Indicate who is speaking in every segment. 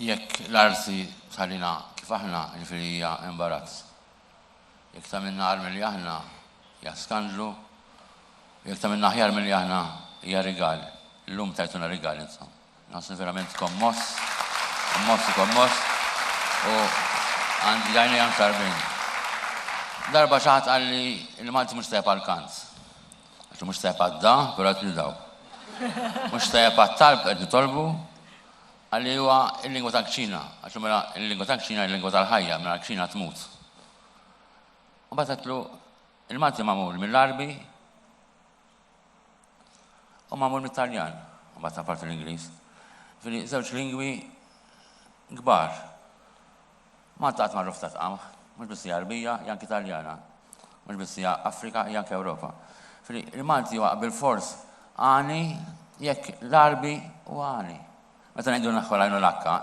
Speaker 1: Jekk l-arsi tħallina kif aħna, jiġifieri hija imbarazz. Jekk tagħmilna agħar milli aħna, hija skandlu, u jekk tagħmilna aħjar milli aħna, hija rigal. Illum tajtuna rigal intom. Nħossni verament kommoss, kommoss u kommoss, u għandi għajnejja mxarrbin. Darba xi ħadd qalli li Malti mhux tajjeb għall-kant. Għax mhux tajjeb għad-da, però qed nindaw. Mhux tajjeb għat-talb qed nitolbu, għalli huwa l-lingwa tal-kċina, għax mela l-lingwa tal-kċina l-lingwa tal-ħajja, mela l-kċina tmut. U bat għatlu, il-Malti mamul mill-Arbi u mamul mill-Taljan, u bat għapart l-Inglis. Fili, zewċ lingwi gbar. Malta qatt ma rruf ta' tqamħ. Mhux biss hija Għarbija, hija anki Taljana. Mhux biss hija Afrika, hija anki Ewropa. Ġifieri, il-Malti huwa bilfors għani jekk l-Għarbi huwa għani. Meta ngħidu naħħu l-għajn u l-għakka,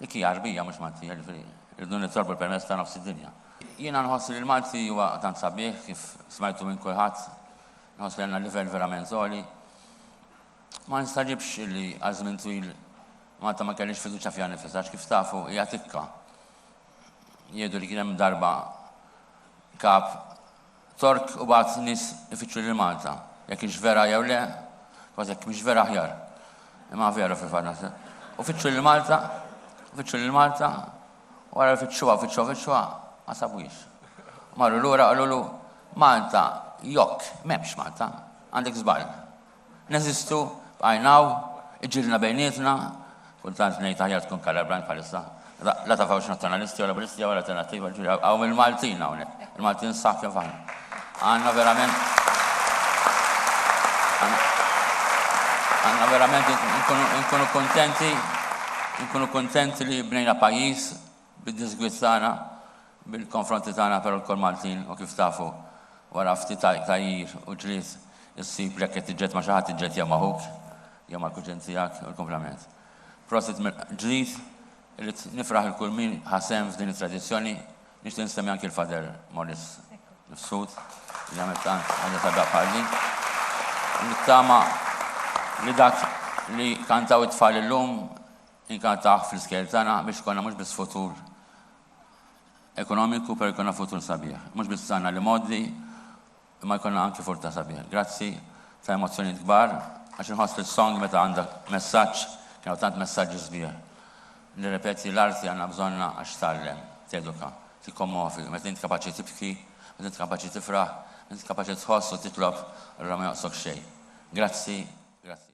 Speaker 1: dik hija Għarbija mhux Maltija, ġifieri rridu nitolbu l-permess ta' nofs id-dinja. Jiena nħoss li l-Malti huwa tant sabiħ kif smajtu minn kulħadd, nħoss li għandna livell verament għoli. Ma nistaġibx li għal żmien twil Malta ma kellhiex fiduċja fiha nifisha għax kif tafu hija tikka. Jgħidu li kien hemm darba kap Tork u bagħat nies ifittxu lil Malta. Jekk hix vera jew le, kważi jekk mhix vera aħjar. Imma vera fil-fatt. U fittxu lil Malta, fittxu lil Malta, wara li fittxuha, fittxuha, fittxuha, ma sabuhiex. Marru lura qalulu Malta, jokk, m'hemmx Malta, għandek żball. Neżistu, bqajna hawn, iġġielidna bejnietna, kultant ngħid aħjar tkun Kalabranj bħalissa, la taf hawnx Nazzjonalisti jew Laburisti jew Alternattiva, ġifieri hawn il-Maltin hawnhekk, il-Maltin sħab kif aħna. Għandna verament għandna verament nkunu kontenti, nkunu kontenti li bnejna pajjiż Bid-diżgwid tagħna, bil-konfronti tagħna però lkoll Maltin u kif tafu wara ftit tgħajjir u ġlied issib li jekk qed tiġġed ma' xi ħadd tiġġed jew ma' ħuk jew mal-kuġin tiegħek u l-kumplament. Prosit mill-ġdid, irrid nifraħ lil kull min ħa sehem f'din it-tradizzjoni, nixtieq insemmi anki l-Father Morris Mifsud li għamel tant ħaġa sabiħa bħal din. Nittama li dak li kantaw it-tfal illum Inkantah fl-iskejjel tagħna biex ikollna mhux biss futur ekonomiku pero jkollna futur sabiħ. Mhux biss għandna l-imgħoddi imma jkollna anki furta sabiħ. Grazzi ta' emozzjonijiet kbar għax inħoss li s-song meta għandha messaġġ kien hawn tant messaġġi sbieħ. Nirrepeti l-arti għandna bżonnha għax tgħallem, teduka, tikkommovi, meta int kapaċi tibki, meta int kapaċi tifraħ, meta int kapaċi tħoss u titlob allura ma jonqsok xejn. Grazzi, grazzi.